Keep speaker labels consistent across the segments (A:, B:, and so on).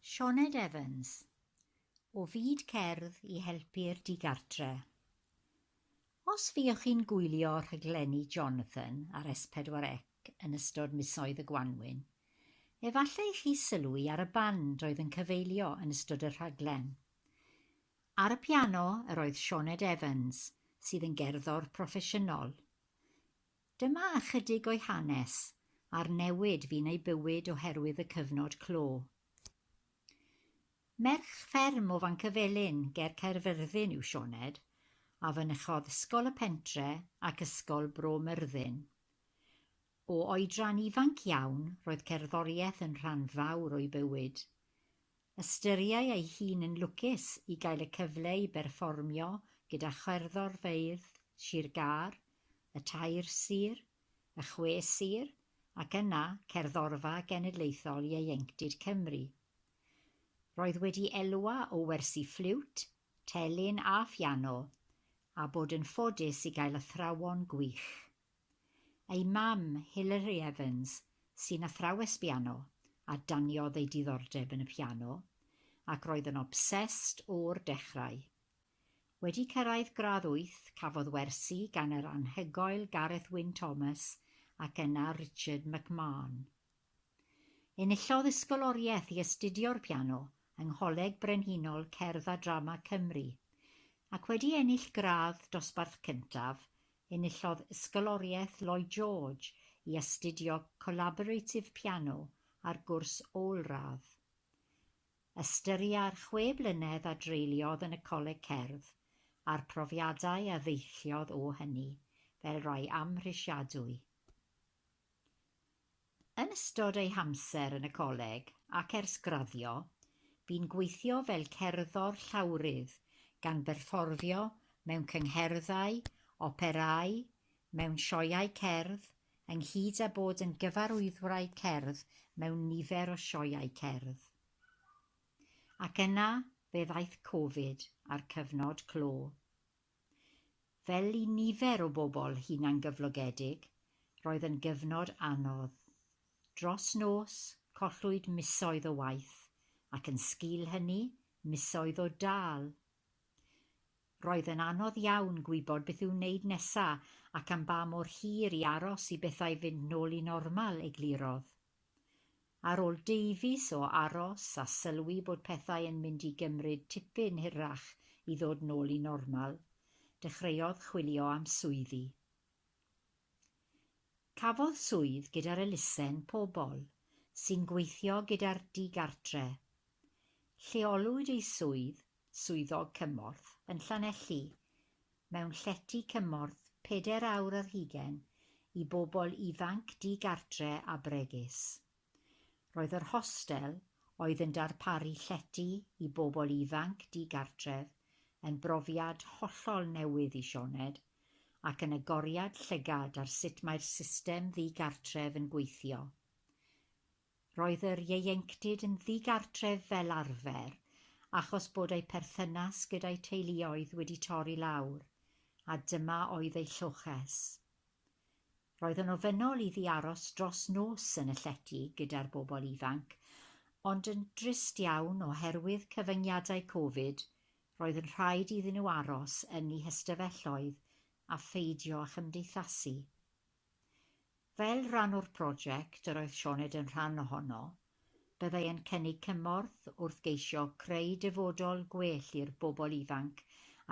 A: Sioned Evans, o Fyd Cerdd i Helpu'r Digartre'. Os fuoch chi'n gwylio rhaglenni Jonathan ar S4C yn ystod misoedd y gwanwyn, efallai chi sylwi ar y band oedd yn cyfeilio yn ystod y rhaglen. Ar y piano yr oedd Sioned Evans, sydd yn gerddor proffesiynol. Dyma ychydig o'i hanes, a'r newid fu'n ei bywyd oherwydd y cyfnod clo. Merch fferm o Fancyfelin ger Caerfyrddin yw Sioned, a fynychodd Ysgol y Pentre ac Ysgol Bro Myrddin. O oedran ifanc iawn, roedd cerddoriaeth yn rhan fawr o'i bywyd. Ystyriai ei hun yn lwcus i gael y cyfle i berfformio gyda cherddor feirdd Sir Gâr, y tair sir, y chwe sir ac yna Cerddorfa Genedlaethol Ieuenctid Cymru. Roedd wedi elwa o wersi ffliwt, telyn a phiano, a bod yn ffodus i gael athrawon gwych. Ei mam, Hilary Evans, sy'n athrawes biano, a daniodd ei diddordeb yn y piano, ac roedd yn obsessed o'r dechrau. Wedi cyrraedd gradd wyth, cafodd wersi gan yr anhygoel Gareth Wyn Thomas ac yna Richard McMahon. Enillodd ysgoloriaeth i astudio'r piano yng Ngholeg Brenhinol Cerdd a Drama Cymru, ac wedi ennill gradd dosbarth cyntaf Enillodd Ysgoloriaeth Lloyd George i astudio Collaborative Piano ar gwrs ôl-radd. Ystyria'r chwe blynedd a dreuliodd yn y Coleg Cerdd, a'r profiadau a ddeilliodd o hynny, fel rai amhrisiadwy. Yn ystod ei hamser yn y coleg ac ers graddio, bu'n gweithio fel cerddor llawrydd, gan berfformio mewn cyngherddau, operâu, mewn sioeau cerdd, ynghyd â bod yn gyfarwyddwraig cerdd mewn nifer o sioeau cerdd. Ac yna fe ddaeth Covid a'r cyfnod clo. Fel i nifer o bobl hunangyflogedig, roedd yn gyfnod anodd. Dros nos, collwyd misoedd o waith, ac yn sgil hynny, misoedd o dâl. Roedd yn anodd iawn gwybod beth i'w wneud nesa' ac am ba mor hir i aros i bethau fynd nôl i normal, eglurodd. Ar ôl deufis o aros a sylwi bod pethau yn mynd i gymryd tipyn hirach i ddod nôl i normal, dechreuodd chwilio am swyddi. Cafodd swydd gyda'r elusen Pobl sy'n Gweithio gyda'r Digartre. Lleolwyd ei swydd Swyddog Cymorth yn Llanelli mewn llety cymorth pedair awr ar hugain i bobl ifanc di-gartre a bregus. Roedd yr hostel, oedd yn darparu llety i bobl ifanc di-gartref, yn brofiad hollol newydd i Sioned ac yn agoriad llygad ar sut mae'r system ddi-gartref yn gweithio. Roedd yr ieuenctid yn ddigartref fel arfer achos bod eu perthynas gyda'u teuluoedd wedi torri lawr, a dyma oedd eu lloches. Roedd yn ofynnol iddi aros dros nos yn y llety gyda'r bobl ifanc, ond yn drist iawn oherwydd cyfyngiadau Covid, roedd yn rhaid iddyn nhw aros yn eu hystafelloedd a pheidio â chymdeithasu. Fel rhan o'r prosiect yr oedd Sioned yn rhan ohono, byddai yn cynnig cymorth wrth geisio creu dyfodol gwell i'r bobl ifanc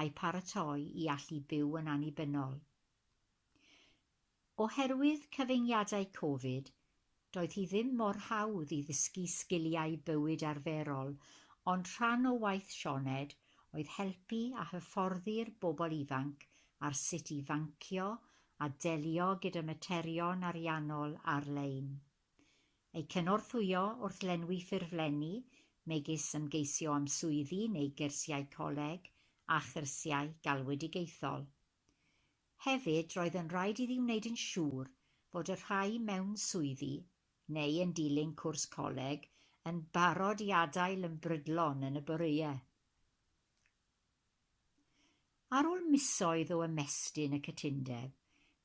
A: a'u paratoi i allu byw yn annibynnol. Oherwydd cyfyngiadau Covid, doedd hi ddim mor hawdd i ddysgu sgiliau bywyd arferol, ond rhan o waith Sioned oedd helpu a hyfforddi'r bobl ifanc ar sut i fancio a delio gyda materion ariannol ar-lein. Eu cynorthwyo wrth lenwi ffurflenni, megis ymgeisio am swyddi neu gyrsiau coleg a chyrsiau galwedigaethol. Hefyd, roedd yn rhaid iddi wneud yn siŵr fod y rhai mewn swyddi, neu yn dilyn cwrs coleg, yn barod i adael yn brydlon yn y boreau. Ar ôl misoedd o ymestyn y cytundeb,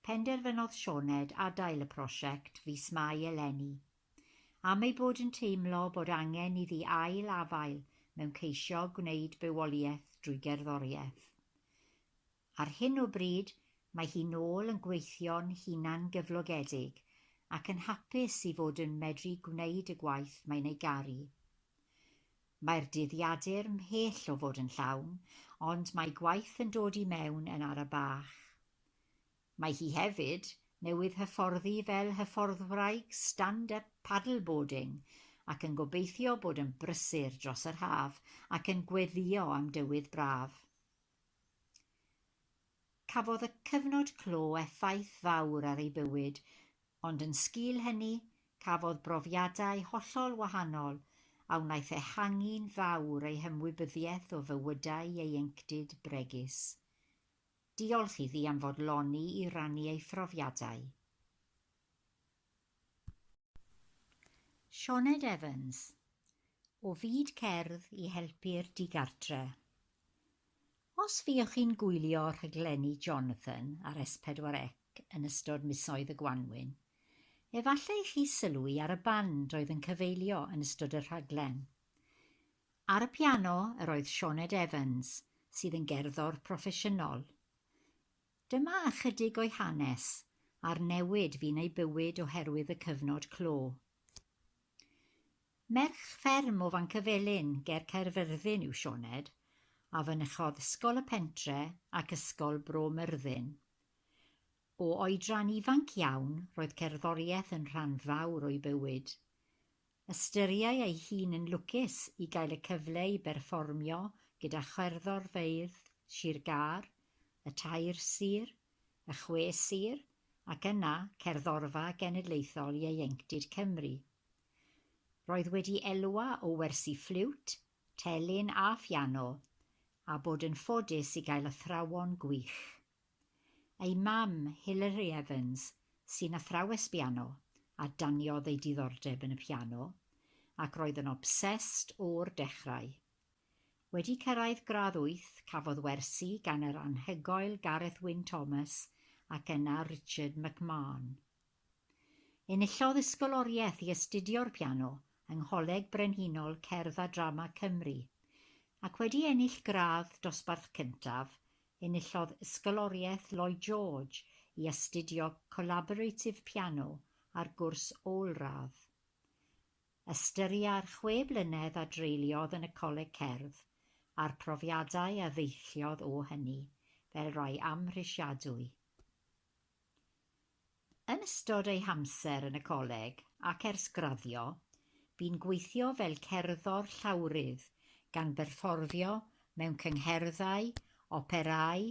A: penderfynodd Sioned adael y prosiect fis Mai eleni, am ei bod yn teimlo bod angen iddi ail-afael mewn ceisio gwneud bywoliaeth drwy gerddoriaeth. Ar hyn o bryd, mae hi nôl yn gweithio'n hunangyflogedig ac yn hapus i fod yn medru gwneud y gwaith mae'n ei garu. Mae'r dydd Iadur mhell o fod yn llawn, ond mae gwaith yn dod i mewn yn ara bach. Mae hi hefyd newydd hyfforddi fel hyfforddwraig stand-up paddleboarding ac yn gobeithio bod yn brysur dros yr haf ac yn gweddïo am dywydd braf. Cafodd y cyfnod clo effaith fawr ar ei bywyd, ond yn sgil hynny, cafodd brofiadau hollol wahanol a wnaeth ehangu'n fawr ei hymwybyddiaeth o fywydau ieuenctid bregus. Diolch iddi am fodloni i rannu ei phrofiadau. Sioned Evans, O fyd cerdd i helpu'r digartre'. Os fuoch chi'n gwylio rhaglenni Jonathan ar S4C yn ystod misoedd y gwanwyn, efallai chi sylwi ar y band oedd yn cyfeilio yn ystod y rhaglen. Ar y piano yr oedd Sioned Evans, sydd yn gerddor proffesiynol. Dyma ychydig o'i hanes, a'r newid fu'n ei bywyd oherwydd y cyfnod clo. Merch fferm o Fancyfelin ger Caerfyrddin yw Sioned, a fynychodd Ysgol y Pentre ac Ysgol Bro Myrddin. O oedran ifanc iawn, roedd cerddoriaeth yn rhan fawr o'i bywyd. Ystyriai ei hun yn lwcus i gael y cyfle i berfformio gyda cherddorfeydd Sir Gâr, y tair sir, y chwe sir ac yna Cerddorfa Genedlaethol Ieuenctid Cymru. Roedd wedi elwa o wersi ffliwt, telyn a phiano a bod yn ffodus i gael athrawon gwych. Ei mam, Hilary Evans, sy'n athrawes biano, a daniodd ei diddordeb yn y piano ac roedd yn obsessed o'r dechrau. Wedi cyrraedd gradd wyth, cafodd wersi gan yr anhygoel Gareth Wyn Thomas ac yna Richard McMahon. Enillodd ysgoloriaeth i astudio'r piano yng Ngholeg Brenhinol Cerdd a Drama Cymru, ac wedi ennill gradd dosbarth cyntaf, enillodd ysgoloriaeth Lloyd George i astudio Collaborative Piano ar gwrs ôl-radd. Ystyria'r chwe blynedd a dreuliodd yn y Coleg Cerdd, a'r profiadau a ddeilliodd o hynny, fel rai amhrisiadwy. Yn ystod ei hamser yn y Coleg, ac ers graddio, bu'n gweithio fel cerddor llawrydd, gan berfforfio mewn cyngherddau, operâu,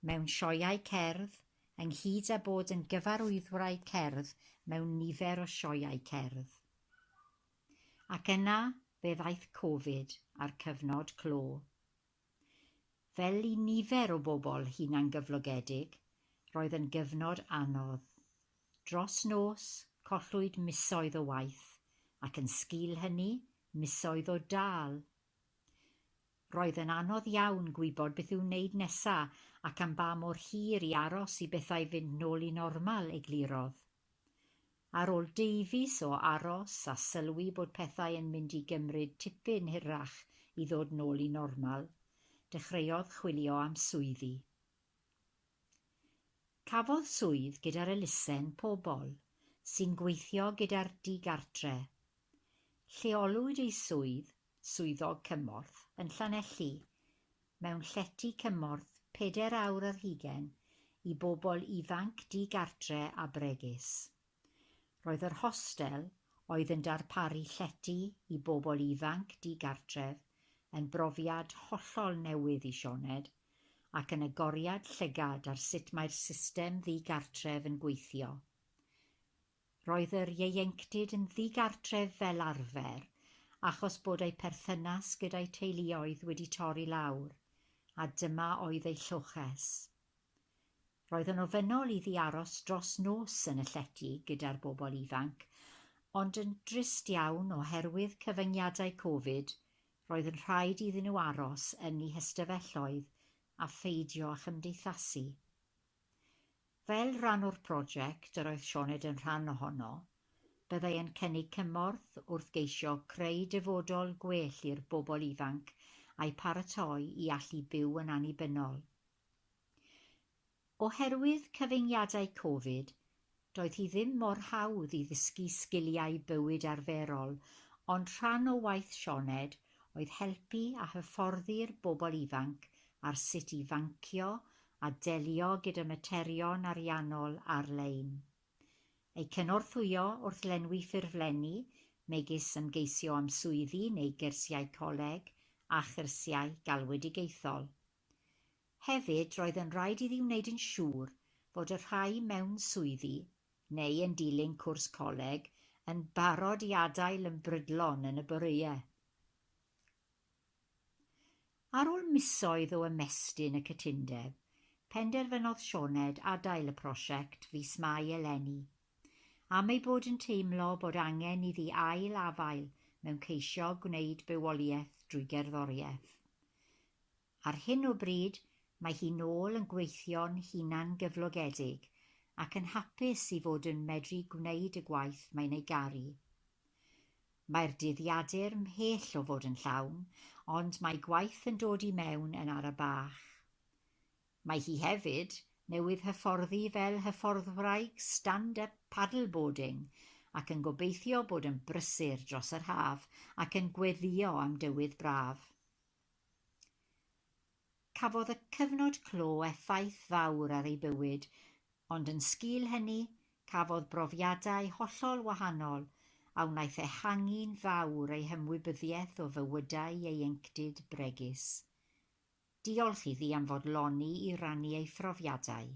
A: mewn sioeau cerdd, ynghyd â bod yn gyfarwyddwraig cerdd mewn nifer o sioeau cerdd. Ac yna fe ddaeth Covid a'r cyfnod clo. Fel i nifer o bobl hunangyflogedig, roedd yn gyfnod anodd. Dros nos, collwyd misoedd o waith, ac yn sgil hynny, misoedd o dâl. Roedd yn anodd iawn gwybod beth i'w wneud nesa ac am ba mor hir i aros i bethau fynd nôl i normal, eglurodd. Ar ôl deufis o aros a sylwi bod pethau yn mynd i gymryd tipyn hirach i ddod nôl i normal, dechreuodd chwilio am swyddi. Cafodd swydd gyda'r elusen pobl sy'n gweithio gyda'r digartre, Lleolwyd ei swydd, Swyddog Cymorth, yn Llanelli, mewn llety cymorth pedair awr ar hugain i bobl ifanc di-gartre a bregus. Roedd yr hostel, oedd yn darparu llety i bobl ifanc di-gartref, yn brofiad hollol newydd i Sioned, ac yn agoriad llygad ar sut mae'r system ddi-gartref yn gweithio. Roedd yr ieuenctid yn ddigartref fel arfer achos bod eu perthynas gyda'u teuluoedd wedi torri lawr, a dyma oedd eu lloches. Roedd yn ofynnol iddi aros dros nos yn y llety gyda'r bobl ifanc, ond yn drist iawn oherwydd cyfyngiadau Covid, roedd yn rhaid iddyn nhw aros yn eu hystafelloedd a pheidio â chymdeithasu. Fel rhan o'r prosiect yr oedd Sioned yn rhan ohono, byddai yn cynnig cymorth wrth geisio creu dyfodol gwell i'r bobl ifanc a'u paratoi i allu byw yn annibynnol. Oherwydd cyfyngiadau Covid, doedd hi ddim mor hawdd i ddysgu sgiliau bywyd arferol ond rhan o waith Sioned oedd helpu a hyfforddi'r bobl ifanc ar sut i fancio a delio gyda materion ariannol ar-lein. Eu cynorthwyo wrth lenwi ffurflenni, megis ymgeisio am swyddi neu gyrsiau coleg a chyrsiau galwedigaethol. Hefyd, roedd yn rhaid iddi wneud yn siŵr fod y rhai mewn swyddi, neu yn dilyn cwrs coleg, yn barod i adael yn brydlon yn y boreau. Ar ôl misoedd o ymestyn y cytundeb, penderfynodd Sioned adael y prosiect fis Mai eleni, am ei bod yn teimlo bod angen iddi ail-afael mewn ceisio gwneud bywoliaeth drwy gerddoriaeth. Ar hyn o bryd, mae hi nôl yn gweithio'n hunangyflogedig ac yn hapus i fod yn medru gwneud y gwaith mae'n ei garu. Mae'r dydd Iadur mhell o fod yn llawn, ond mae gwaith yn dod i mewn yn ara bach. Mae hi hefyd newydd hyfforddi fel hyfforddwraig stand-up paddleboarding ac yn gobeithio bod yn brysur dros yr haf ac yn gweddïo am dywydd braf. Cafodd y cyfnod clo effaith fawr ar ei bywyd, ond yn sgil hynny, cafodd brofiadau hollol wahanol a wnaeth ehangu'n fawr ei hymwybyddiaeth o fywydau ieuenctid bregus. Diolch iddi am fodloni i rannu ei phrofiadau.